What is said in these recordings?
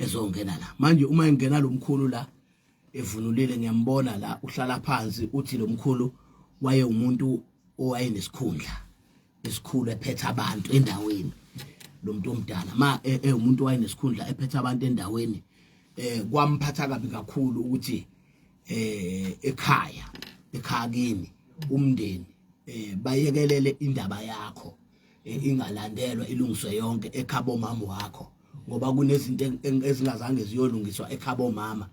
ezongena la manje uma engena lo mkhulu la evunulile ngiyambona la uhlala phansi uthi lo mkhulu waye umuntu owayenesikhundla esikhulu ephethe abantu endaweni lo muntu omdala ma ewumuntu e, wayenesikhundla ephethe abantu endaweni eh kwamphatha kabi kakhulu ukuthi eh ekhaya ekhaya kimi umndeni eh bayekelele indaba yakho ingalandelwa ilungiswe yonke ekhabo mama wakho ngoba kunezinto ezingazange ziyolungiswa ekhabo mama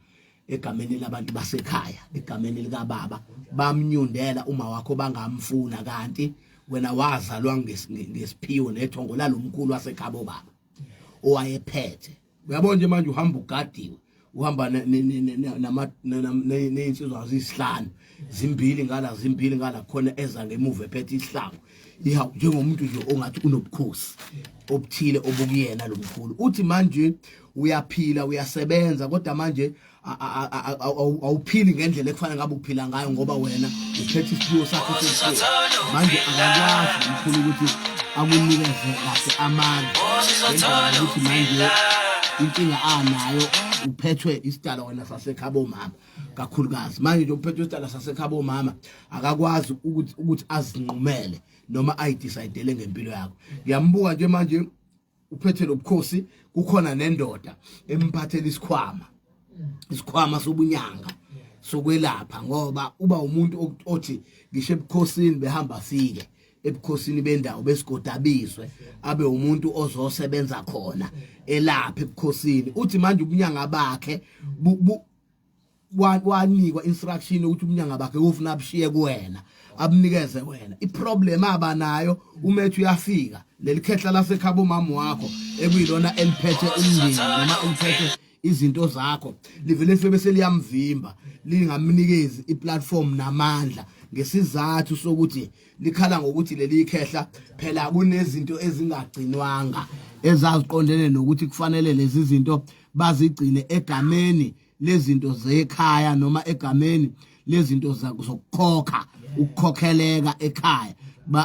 egameni labantu basekhaya egameni likababa bamnyundela uma wakho bangamfuna kanti wena wazalwa ngesiphiwo nethongo lalomkhulu wasekhabo baba owayephethe uyabona nje manje uhamba ugadiwe uhamba ney'nsizwa ziyisihlanu zimbili ngala zimbili ngala khona eza ngemuva ephethe isihlangu ihawu njengomuntu nje ongathi unobukhosi obuthile obukuyena lo mkhulu uthi manje uyaphila uyasebenza kodwa manje awuphili ngendlela ekufanele ngabe uphila ngayo ngoba wena uphethe isiphiwo sakho sesiphiwo manje akakwazi mkhulu ukuthi akunikeze kahle amandla ngendlela ukuthi manje inkinga anayo uphethwe isidala wena sasekhabo mama kakhulukazi manje nje uphethwe isidala sasekhabo mama akakwazi ukuthi ukuthi azinqumele noma ayidecidele ngempilo yakho ngiyambuka nje manje uphethe lobukhosi kukhona nendoda emphathela isikhwama isikhwama sobunyanga sokwelapha ngoba uba umuntu othi ngisho ebukhosini behamba sike ebukhosini bendawo besigodabizwe abe umuntu ozosebenza khona elapha ebukhosini uthi manje ubunyanga bakhe kwanikwa instruction ukuthi umnyanga bakhe ufuna abushiye kuwena abunikeze wena iproblem abanayo umethi uyafika lelikhehla lasekhaba umama wakho ekuyilona eliphethe umndeni noma eliphethe izinto zakho livele life bese liyamvimba lingamnikezi iplatform namandla ngesizathu sokuthi likhala ngokuthi leli khehla phela kunezinto ezingagcinwanga ezaziqondene nokuthi kufanele lezi zinto bazigcine egameni lezinto zekhaya noma egameni lezinto zokukhokha ukukhokheleka ekhaya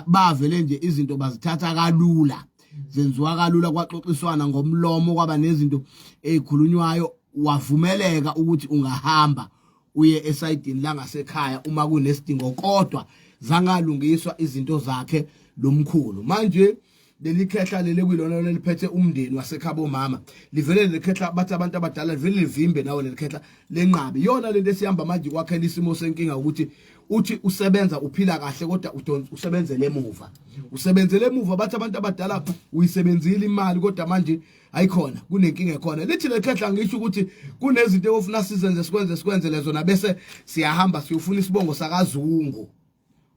bavele nje izinto bazithatha kalula zenziwa kalula kwaxoxiswana ngomlomo kwaba nezinto ezikhulunywayo wavumeleka ukuthi ungahamba uye esayidini langasekhaya uma kunesidingo kodwa zangalungiswa izinto zakhe lomkhulu manje leli khehla leli kwilona leliphethe umndeni wasekhabo mama livele leli khehla bathi abantu abadala livele livimbe nawo leli khehla lenqabi yona lento esihamba manje kwakhela isimo senkinga ukuthi uthi usebenza uphila kahle kodwa udonsa usebenzele emuva usebenzele emuva bathi abantu abadala uyisebenzile imali kodwa manje ayikhona kunenkinga ekhona lithi lekhehla ngisho ukuthi kunezinto ofuna sizenze sikwenze sikwenze lezo na bese siyahamba siyofuna isibongo sakazungu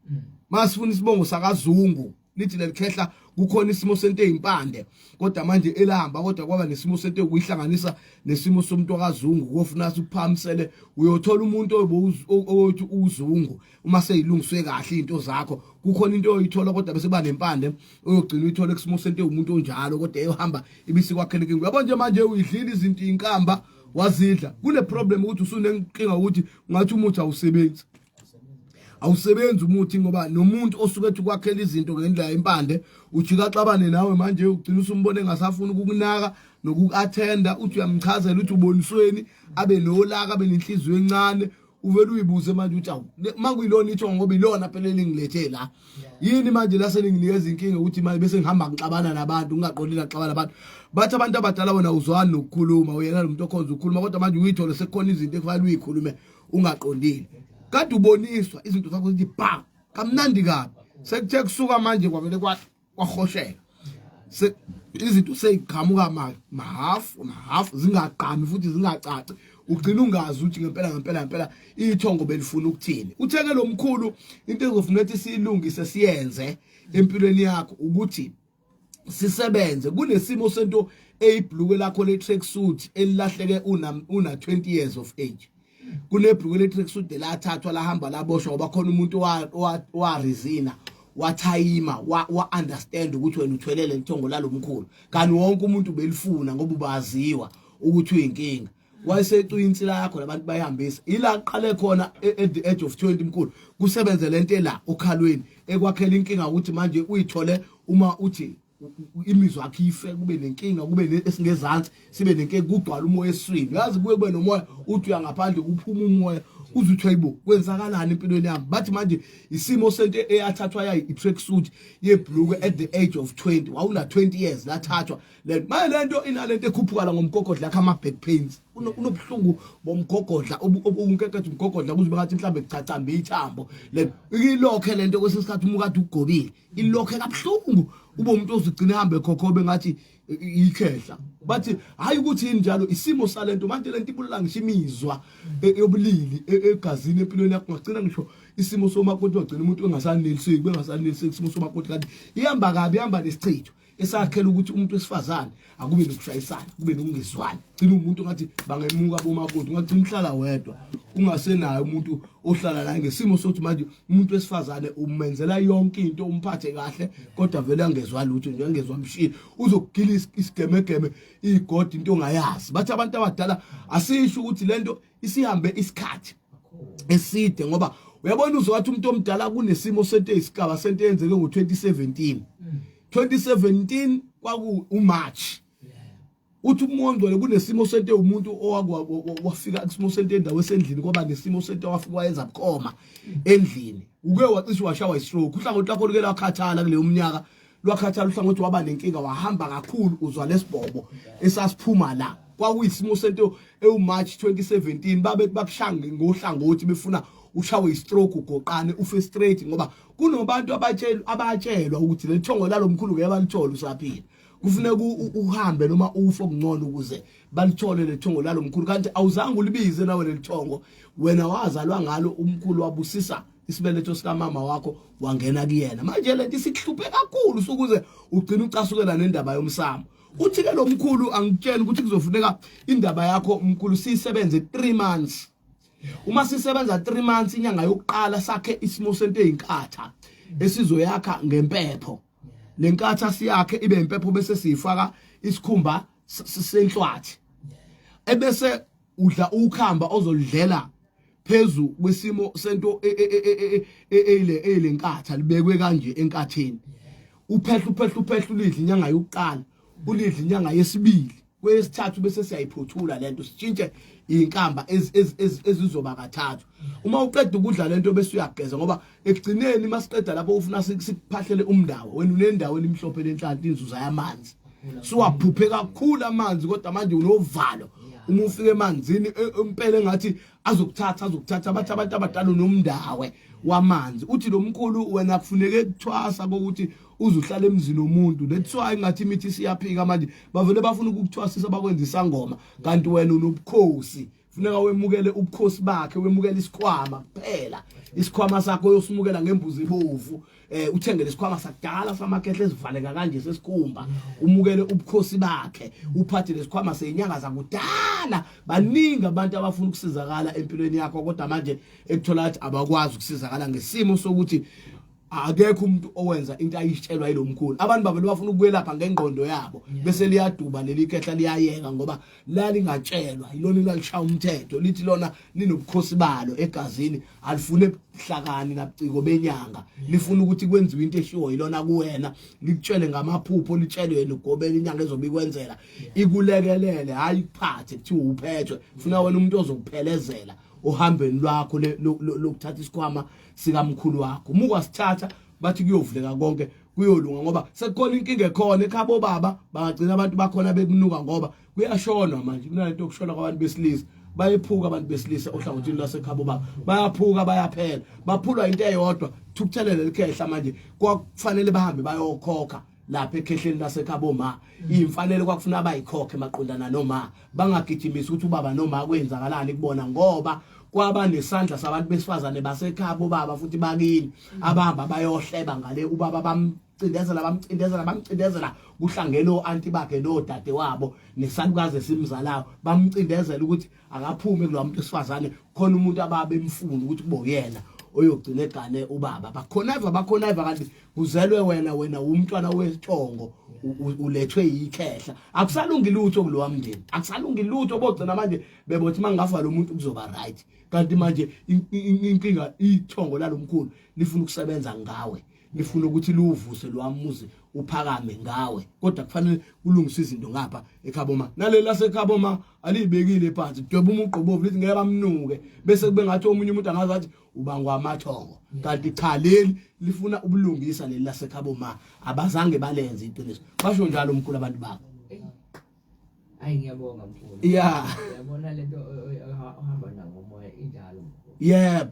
mm. masifuna isibongo sakazungu lithi lelikhehla kukhona isimo sento ezimpande kodwa manje elahamba kodwa kwaba nesimo sento kuyihlanganisa nesimo somuntu akazungu kofuna ukuphamisele uyothola umuntu oyothi uzungu uma seyilungiswe kahle into zakho kukhona into oyithola kodwa bese banempande oyogcina uyithola kusimo sento umuntu onjalo kodwa eyohamba ibisikwakhele kingu yabo nje manje uyidlile izinto inkamba wazidla kule problem ukuthi usunenkinga ukuthi ngathi umuthi awusebenzi awusebenzi umuthi ngoba nomuntu osuke ethi ukwakhela izinto ngendlela impande ujika axabane nawe manje ugcina usumbone engasafuni ukukunaka nokuku-athenda uthi uyamchazela ukuthi ubonisweni abe nolaka abe nenhliziyo encane uvele uyibuze manje ukuthi awu uma kuyilona ithongo ngoba ilona phela elingilethe la yini manje laseninginikeza inkinga ukuthi manje bese ngihamba ngixabana nabantu ngingaqondi naxabana abantu bathi abantu abadala bona uzwani nokukhuluma uyena lo muntu okhonza ukukhuluma kodwa manje uyithole sekukhona izinto ekufanele uyikhulume ungaqondile kade uboniswa izinto zakho zithi bam kamnandi kabi sekuthe kusuka manje kwavele kwahosheka izinto seyiqhamuka mahafu mahafu zingaqami futhi zingacaci ugcina ungazi ukuthi ngempela ngempela ngempela ithongo belifuna ukuthini utheke lo mkhulu into ezofuna ukuthi siyilungise siyenze empilweni yakho ukuthi sisebenze kunesimo sento eyibhluke lakho le track suit elilahleke una una 20 years of age kunebhluke le track suit lathathwa lahamba laboshwa ngoba khona umuntu wa wa resina wathayima wa understand ukuthi wena uthwelele inthongo lalomkhulu kanti wonke umuntu belifuna ngoba ubaziwa ukuthi uyinkinga wayesecwa insi lakho labantu bayihambisa ila qale khona e, at the age of 20 mkhulu kusebenze lento la okhalweni ekwakhela inkinga ukuthi manje uyithole uma uthi imizwa yakhe ife kube nenkinga kube esingezansi sibe nenkinga kugcwala umoya eswini uyazi kuye kube nomoya uthi uyangaphandle kuphuma umoya uze uthi hayibo kwenzakalani empilweni yami bathi manje isimo sento eyathathwa yayi i-track suit yebhuluke at the age of 20 wawuna 20 years lathathwa le manje lento inalento ekhuphukala ngomgogodla yakhe ama back pains unobuhlungu bomgogodla obunkeketha umgogodla kuze bekathi mhlambe kucacamba ithambo le ilokhe lento kwesinye isikhathi umukade ugobile ilokhe kabuhlungu ube umuntu ozigcina ehambe khokhobe ngathi ikhehla bathi hayi ukuthi yini njalo isimo salento manje lento ibulala ngisho imizwa e, yobulili e, egazini empilweni yakho ngagcina ngisho isimo somakoti wagcina umuntu engasaneliseki bengasaneliseki isimo somakoti kanti ihamba kabi ihamba nesichitho esakhela ukuthi umuntu wesifazane akube nokushayisana kube nokungezwani gcina umuntu ngathi bangemuka bomakoti ungagcina uhlala wedwa ungasenayo umuntu ohlala naye ngesimo sokuthi manje umuntu wesifazane umenzela yonke into umphathe kahle kodwa vele angezwa lutho nje angezwa mshini uzokugila isigemegeme igodi into ongayazi bathi abantu abadala asisho ukuthi lento isihambe isikhathi eside ngoba uyabona uzowathi umuntu omdala kunesimo sento eyisigaba sento eyenzeke ngo-2017 2017 mm. kwaku umarch uthi umoya ongcwele kunesimo sento umuntu owafika kusimo sento endawo esendlini kwaba nesimo sento wafika wayenza bukhoma mm. endlini uke wacishe washawa istroke uhlangothi lakho luke lakhathala kuleyo mnyaka lwakhathala uhlangothi waba nenkinga wahamba kakhulu uzwa lesibhobo esasiphuma la kwakuyisimo sento ewuMarch 2017 babe bakushange ngohlangothi befuna ushawe istroke ugoqane ufe straight ngoba kunobantu abatshelwa abatshelwa ukuthi lethongo lalomkhulu ngeke balithole usaphila kufuneka uhambe noma ufe okungcono ukuze balithole lethongo lalomkhulu kanti awuzange ulibize nawe lelithongo wena wazalwa ngalo umkhulu wabusisa isibeletho sikamama wakho wangena kuyena manje lento isikuhluphe kakhulu sukuze ugcina ucasukela nendaba yomsamo uthi ke lo mkhulu angitshela ukuthi kuzofuneka indaba yakho umkhulu siyisebenze 3 months uma sisebenza 3 months inyanga yokuqala sakhe isimo sento ezinkatha esizoyakha ngempepho lenkatha siyakhe ibe impepho bese siyifaka isikhumba senhlwathi ebese udla ukhamba ozolidlela phezu kwesimo sento e, e, e, eyile eyile nkatha libekwe kanje enkatheni uphehla uphehla uphehla ulidla inyanga yokuqala ulidla inyanga yesibili kwesithathu bese siyayiphothula lento sitshintshe inkamba ezizoba kathathu uma uqeda ukudla lento bese uyageza ngoba ekugcineni masiqeda lapho ufuna sikuphahlele umndawo wena unendawo elimhlophe lenhlanhla inzuza yamanzi siwaphuphe kakhulu amanzi kodwa manje unovalo uma ufika emanzini e, impela engathi azokuthatha azokuthatha bathi abantu abadala nomndawe wamanzi uthi lo mkhulu wena kufuneke kuthwasa kokuthi uzuhlala emzini womuntu that's why ngathi imithi siyaphika manje bavele bafuna ukukuthwasisa bakwenza isangoma kanti wena unobukhosi funeka wemukele ubukhosi bakhe wemukele isikhwama kuphela isikhwama sakho uyosimukela ngembuzi ebovu eh uthengele isikhwama sakudala samakehle esivaleka kanje sesikhumba umukele ubukhosi bakhe uphathe lesikhwama senyanga zakudala baningi abantu abafuna ukusizakala empilweni yakho kodwa manje ekuthola ukuthi abakwazi ukusizakala ngesimo sokuthi akekho umuntu owenza into ayisitshelwa yilomkhulu abantu bavele bafuna ukwelapha ngengqondo yabo bese liyaduba leli kehla liyayeka ngoba lalingatshelwa yilona elalishaya umthetho lithi lona linobukhosi balo egazini alifune ebuhlakani nabuciko benyanga lifuna ukuthi kwenziwe into eshiwo yilona kuwena likutshele ngamaphupho litshele wena ugobela inyanga ezobe ikwenzela ikulekelele hayi ikuphathe kuthiwa uphethwe funa wena umuntu ozokuphelezela ohambeni lwakho lokuthatha isikhwama sikamkhulu wakho uma ukwasithatha bathi kuyovuleka konke kuyolunga ngoba sekukhona inkinga ekhona ekhabo baba bangagcina abantu bakhona bekunuka ngoba kuyashonwa manje kunalento yokushona kwabantu besilisa bayephuka abantu besilisa ohlangothini lwasekhabo baba bayaphuka bayaphela baphulwa into eyodwa thukuthelele likhehla manje kwakufanele bahambe bayokhokha lapha ekhehleni lasekhabo ma imfanele kwakufuna abayikhokhe maqondana noma bangagijimisa ukuthi ubaba noma kwenzakalani kubona ngoba kwaba nesandla sabantu besifazane basekhabo baba futhi bakini abahamba bayohleba ngale ubaba bamcindezela bamcindezela bamcindezela kuhlangene oanti bakhe nodade wabo nesalukazi esimzalayo bamcindezela ukuthi akaphume kulomuntu esifazane khona umuntu ababe emfuna ukuthi kubo yena oyogcina egane ubaba bakhona eva bakhona eva kanti kuzelwe wena wena umntwana wesithongo ulethwe yikhehla akusalungi lutho kulowa mndeni akusalungi lutho bogcina manje bebothi mangafa lo muntu kuzoba right kanti manje inkinga ithongo lalomkhulu lifuna ukusebenza ngawe lifuna ukuthi liwuvuse lwamuzi uphakame ngawe kodwa kufanele kulungise izinto ngapha ekhaboma naleli lasekhaboma alibekile phansi kudweba umuqobovu lithi ngeke bamnuke bese kube ngathi omunye umuntu angazi athi ubangwa amathongo kanti cha leli lifuna ubulungisa leli lasekhaboma abazange balenze iqiniso basho njalo umkhulu abantu babo ayi ngiyabonga mkhulu yeah yabona lento ohamba nayo moya injalo yebo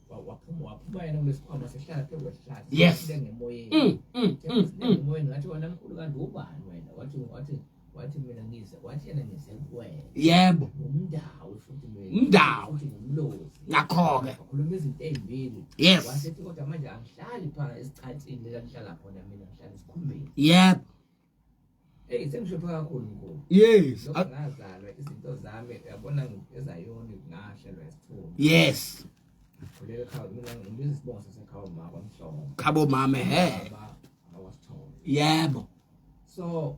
waphuma waphuma yena kulesikhwama sehlala phezu kwesihlahla yes ngemoyeni mm, mm, mm, ngemoyeni ngathi wena mkhulu kanti ubani wena wathi wathi wathi mina ngize wathi yena ngize kuwena yebo umndawo futhi umndawo umlozi ngakho-ke wakhuluma izinto ey'mbili yes wasethi kodwa manje angihlali phana esicathini lelakuhlala khona mina ngihlala esikhumbeni yebo Hey sengihluphe kakhulu mkhulu. Yes. Lokho ngazalwa izinto zami yabona ezayona ngahlelwa isithunzi. Yes. Kulele khaya mina ngibiza isibongo sasekhaya mama kwamhlongo. Khabo mama he. Awasithole. Yebo. So